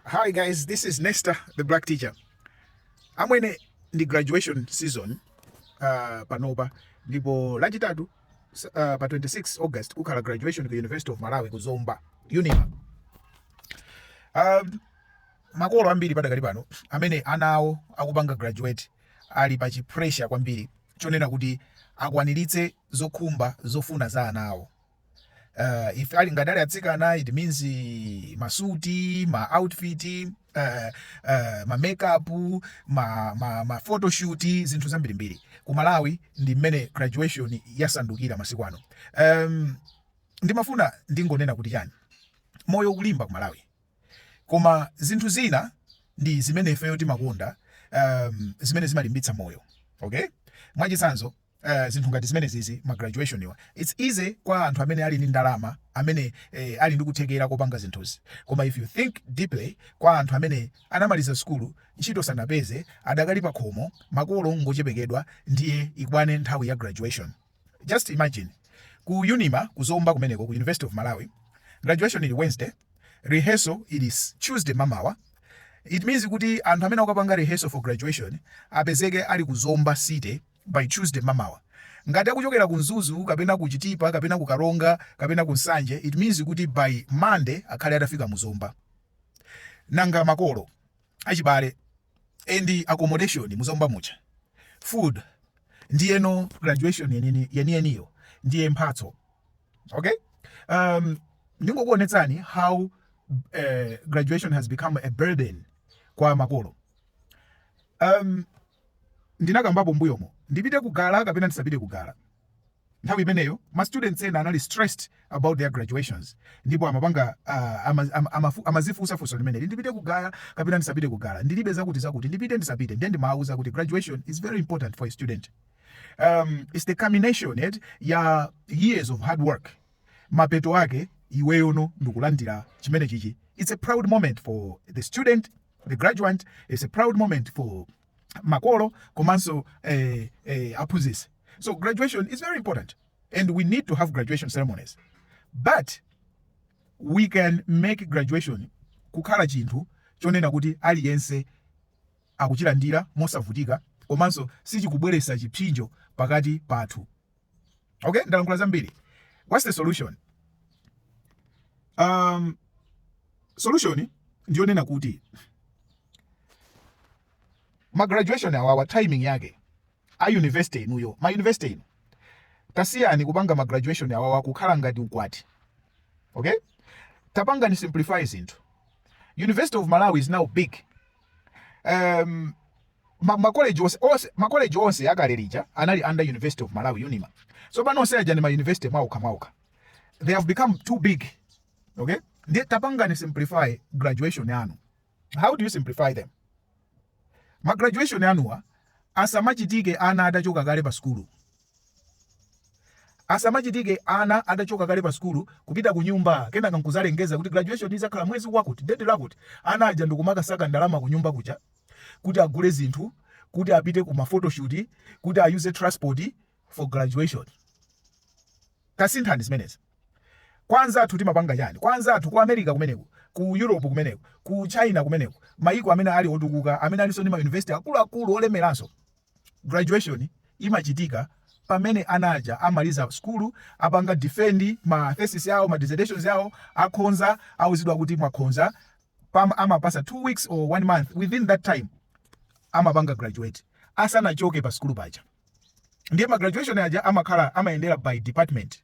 Hi guys, this is Nesta, the black teacher. Amwene ndi graduation season uh, panopa ndipo lachitatu uh, pa 26 August kukhala graduation ku University of Malawi ku Zomba Unima. Um, makolo ambiri padakali pano amene ana awo akupanga graduate ali pa chipressure kwambiri chonena kuti akwaniritse zokhumba zofuna za ana awo. uh, if ali ngati ali atsikana it means eh, masuti ma outfit uh, uh, ma makeup ma, ma, ma photoshoot zinthu zambirimbiri ku malawi ndi mmene graduation yasandukira masiku ano um, ndimafuna ndingonena kuti chani moyo ukulimba ku malawi koma zinthu zina ndi zimene ifeyo timakonda um, zimene zimalimbitsa moyo okay mwachitsanzo eeh zinthu ngati zimenezizi ma graduation wa it's easy kwa anthu amene ali ndi ndalama amene eeh ali ndi kuthekera kopanga zinthuzi koma if you think deeply kwa anthu amene anamaliza sukulu ntchito sanapeze adakali pakhomo makolo ngochepekedwa ndiye ikwane nthawi ya graduation just imagine ku unima ku zomba kumeneko ku university of malawi graduation ili wednesday rehearsal ili tuesday mamawa it means kuti anthu amene akukapanga rehearsal for graduation apezeke ali ku zomba city by Tuesday mmamawa. Ngati akuchokera ku Mzuzu kapena ku Chitipa kapena ku Karonga kapena ku Nsanje it means kuti by Monday akhale atafika mu Zomba. Nanga makolo, achibale and accommodation mu Zomba muja, food ndiyeno graduation yeni yeniyeniyo ndiye mphatso okay um, ndingokuonetsani how uh, graduation has become a burden kwa makolo um, ndinakambapo mbuyomo, ndipite ku gala kapena ndisapite ku gala. Nthawi imeneyo ma students ena anali stressed about their graduations ndipo amapanga uh, ama, ama, ama, amazifunsa funso limeneli ndipite ku gala kapena ndisapite ku gala ndilibe zakuti zakuti ndipite ndisapite ndiye ndimawauza kuti graduation is very important for a student um, it's the culmination it, ya years of hard work mapeto ake iweyono ndikulandira chimene chichi it's a proud moment for the student the graduand it's a proud moment for makolo komanso eh, eh, aphunzitsi so graduation is very important and we need to have graduation ceremonies but we can make graduation kukhala chinthu chonena kuti aliyense akuchilandira mosavutika komanso sichikubweretsa chipsinjo pakati pathu okay ndalankhula zambiri what's the solution um solution ndiyonena kuti ma graduation awawa timing yake a university inuyo ma university inu tasiyani kupanga ma graduation awawa kukhala ngati ukwati okay tapangani simplify zinthu university of malawi is now big um, ma, ma college onse onse ma college onse akale lija anali under University of Malawi Unima tsopano onse aja ndi ma university mwaokha mwaokha they have become too big okay ndiye tapangani simplify graduation yanu how do you simplify them ma graduation yanuwa asamachitike ana atachoka kale pa sukulu asamachitike ana atachoka kale pa sukulu kupita ku nyumba kenaka nkuzalengeza kuti graduation izakhala mwezi wakuti date lakuti ana aja ndikumakasaka ndalama ku nyumba kuja kuti agule zinthu, kuti apite ku mafotoshoot, kuti ayuze transport for graduation. Tasinthani zimenezi. Kwa anzathu timapanga chani? Kwa anzathu ku America kumeneko, ku Europe kumeneko, ku China kumeneko, mayiko amene ali otukuka, amene alinso ndi mayunivesiti akuluakulu olemeranso, graduation imachitika pamene ana aja amaliza sukulu, apanga defend ma thesis awo, ma dissertations awo, akhonza, auzidwa kuti mwakhonza, pam amapasa 2 weeks or 1 month within that time amapanga graduate asanachoke pa sukulu paja ndiye ma graduation aja amakhala amayendera by department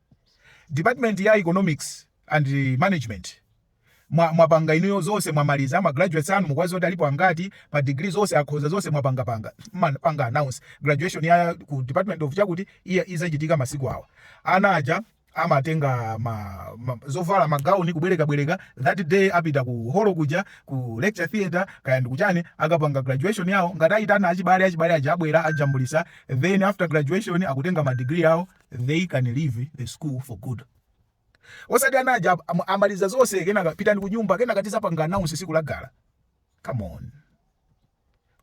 department ya economics and management mwa- mwapanga inuyo zonse mwamaliza ma graduates anu mukuwadziwa kuti alipo angati pa degree zonse akhoza zonse mwapangapanga Man- panga announce graduation ya ku department of chakuti iya izachitika masiku awa ana aja amatenga ma, ma, zovala magauni kubwerekabwereka that day apita ku holo kuja ku lecture theatre kaya ndikuchani akapanga graduation yawo ngati ayitana achibale achibale aja abwera ajambulisa then after graduation akutenga ma degree yawo they can leave the school for good osati ana aja am- amaliza zonse kenaka pitani ku nyumba kenaka tizapanga announce siku la gra come on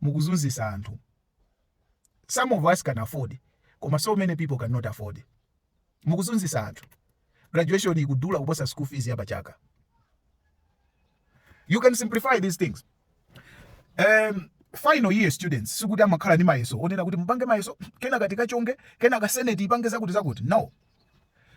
mukuzunzisa anthu some of us can afford koma so many people cannot afford mukuzunzisa anthu graduation ikudula kuposa school fees ya pachaka you can simplify these things um, final year students sikuti amakhala ndi mayeso onena kuti mupange mayeso kenaka tikachonge kenaka senate ipange zakuti zakuti no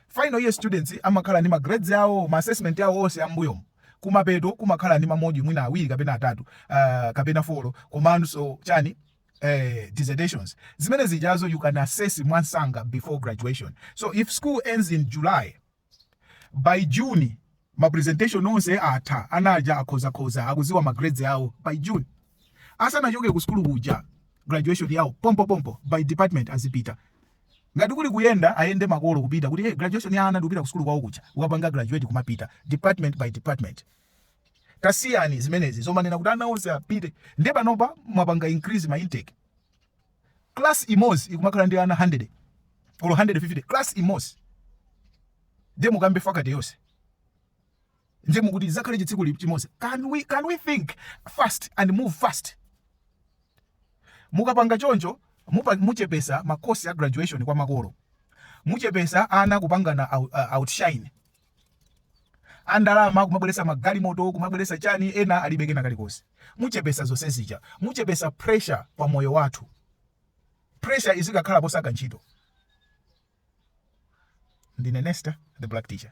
final year students amakhala ndi ma grades awo ma assessment awo onse ambuyomo kumapeto kumakhala ndi ma module mwina awiri kapena atatu uh, kapena folo komanso chani eh, dissertations zimene zijazo you can assess mwamsanga before graduation so if school ends in july by june ma presentation onse atha ana aja akhozakhoza akuziwa ma grades awo by june asanachoke ku sukulu kuja graduation yawo pompo pompo by department azipita ngati kuli kuyenda ayende makolo kupita kuti hey, graduation ya ana n'kupita ku sukulu kwawo kuja ukapanga graduate kumapita department by department tasiyani zimenezi zomanena kuti ana onse apite nde panopa mwapanga increase ma intake class imozi ikumakhala ndi ana 100 olo 150 class imozi nde mukambe faculty yonse nde mukuti zakhale chitsiku chimozi can we, can we think fast and move fast mukapanga choncho muchepesa ma cost a graduation kwa makolo muchepesa ana kupangana outshine andalama kumabweresa magalimoto kumabweresa chani ena alibe kena kalikonse muchepesa zonse zija muchepesa pressure pa moyo wathu pressure izikakhala posaka ntchito ndine nesta the black teacher